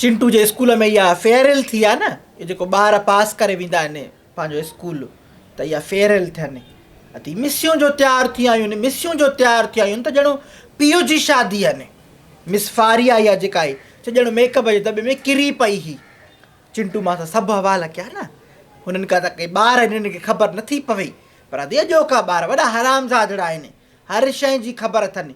چنٽو جي اسڪول ۾ اها فيئرويل ٿي آ نه اهي جيڪو ٻار پاس ڪري ويندا آهن پنهنجو اسڪول ته اها فيئرويل ٿين اٿي مسيون جو تيار ٿي آيون مسيون جو تيار ٿي آيون ته ڄڻ پيء جي شادي آ نه مس فاريا اها جيڪا آئي سو ڄڻ ميڪ اپ جي دٻي ۾ ڪري پئي هي چنٽو مان سان سڀ حوال ڪيا نه هنن کا ته ڪي ٻار آهن هنن کي خبر نٿي پوي پر ادي اڄوڪا ٻار وڏا حرام زادڙا آهن هر شئي جي خبر اٿن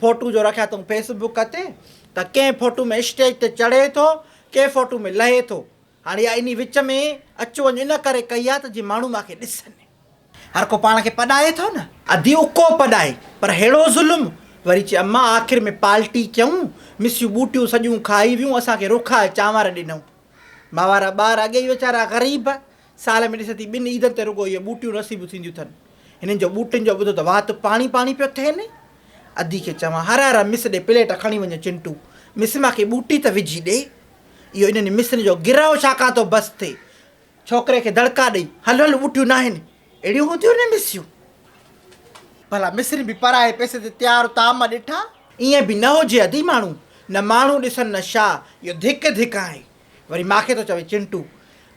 فوٽو جو رکيا اٿئون فيس بوڪ تي ته ڪنهن فوٽو ۾ اسٽيج تي چڙهي ٿو ڪنهن فوٽو ۾ لهي ٿو هاڻي اها انهي وچ ۾ اچ وڃ ان ڪري ڪئي آهي ته جي ماڻهو مان کي ڏسن. هر ڪو پاڻ کي پڏائي ٿو نه. ادي اڪو پڏائي پر ههڙو ظلم. وري چي امان آخر ۾ پالٽي ڪيون مسيون ٻوٽيون سڄيون کائي ويون اسان کي روکائي چانور ڏنئون ماوارا ٻار اڳي ئي ويچارا غريب سال ۾ ڏس ٿي ٻن عيدن تي رڳو اهي ٻوٽيون نصيب ٿينديون ٿن. هنن جو ٻوٽن جو ٻڌو ته وات پاڻي پاڻي پيو ٿين. ادي کي چوان، هر هر مس ڏي پليٽ کڻي وڃ چنٽو، مس مان ڪي ٻوٽي ته وجهي ڏي. اهو انهن مسن جو گرهه ڇاڪان ٿو بس ٿئي. ڇوڪري کي دڙڪا ڏئي، هل هل ٻوٽيون ناهن، اهڙيون هونديون نه مسيون. ڀلا مسن به پرائي پئسي تي تيار طعام ڏٺا. ائين به نه هجي ادي ماڻهو نه ماڻهو ڏسن نه شاهه، اهو ڌڪ ڌڪ آهي. وري ماء کي ٿو چوي، چنٽو!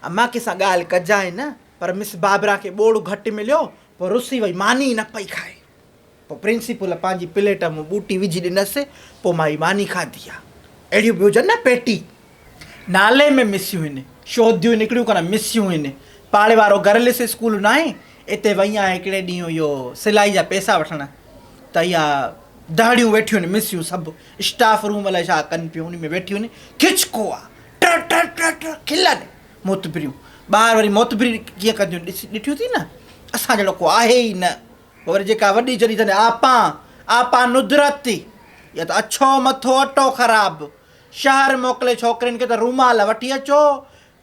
امان ڪي سان ڳالهه ڪجانء نه. پر مس بابرا کي ٻوڙ گهٽ مليو، پوء رسي وئي، ماني ئي نه پئي کائي. پوء پرنسپل پنهنجي پليٽ ۾ ٻوٽي وجهي ڏنس، پوء مان هي ماني کاڌي آ. اهڙيون به هجن نه پيٽي. نالي ۾ مسيون هن، شوديون نڪريون ڪونه مسيون هن. پاڙي وارو گرلس اسڪول ناهي، اتي وئي آهيان هڪڙي ڏينهن اهو سلائي جا پئسا وٺڻ، ته اها دهڙيون ويٺيون هن مسيون سڀ. اسٽاف روم الائي ڇا ڪن پيون انهي ۾ ويٺيون کچڪوا ٽر ٽر ٽر ٽر کلن معتبريون ٻاهر وري معتبري جيئن ڪنديون ڏس ڏٺيون ٿي نه اسان جهڙو ڪو آهي ئي نه پوء وري جيڪا وڏي چري ٿن آپان آپان ندرت اها ته اڇو مٿو اٽو خراب شهر موڪلي ڇوڪرين کي ته رومال وٺي اچو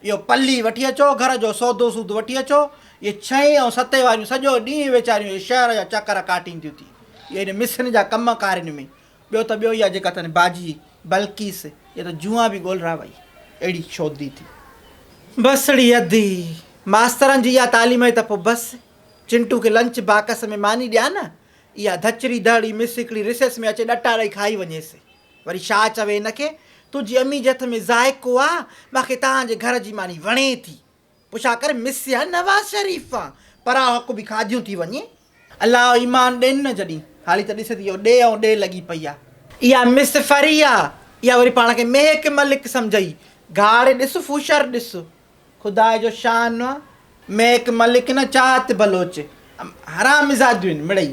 اهو پلي وٺي اچو گهر جو سودو سود وٺي اچو اهي ڇهين ۽ ستين واريون سڄو ڏينهن ويچاريون اهي شهر جا چڪر ڪاٽينديون ٿي اهي ان مصرين جا ڪم ڪارين ۾ ٻيو ته ٻيو اها جيڪا تنهنجي باجي بلقيس يا ته جوئان به ڳولرا وئي اهڙي شودي ٿي. بسڙي ادي، ماسترن جي اها تعليم آهي ته پوء بس چنٽو کي لنچ باڪس ۾ ماني ڏيان نه، اها ڌچڙي دهڙي مس هڪڙي ريسيس ۾ اچي ڏٽا ڏئي کائي وڃيس. وري شاهه چوي هن کي، تنهنجي امي جي هٿ ۾ ذائقو آ، باقي توهان جي گهر جي ماني وڻي ٿي. پڇا ڪر مس يا نواز شريف آن پرا حق به کاڌيون ٿي وڃي. الله او ايمان ڏين نه جڏھين ھالي ته ڏس ٿي او ڏي ائون ڏي لڳي پئي آ. اها مس فري آ اها وري پاڻ کي ميهڪ ملڪ سمجهئي گهاڙي ڏس فوشر ڏس خدا جو شان آ ميهڪ ملڪ نه چاهت بلوچ حرامزاديون آهن مڙئي.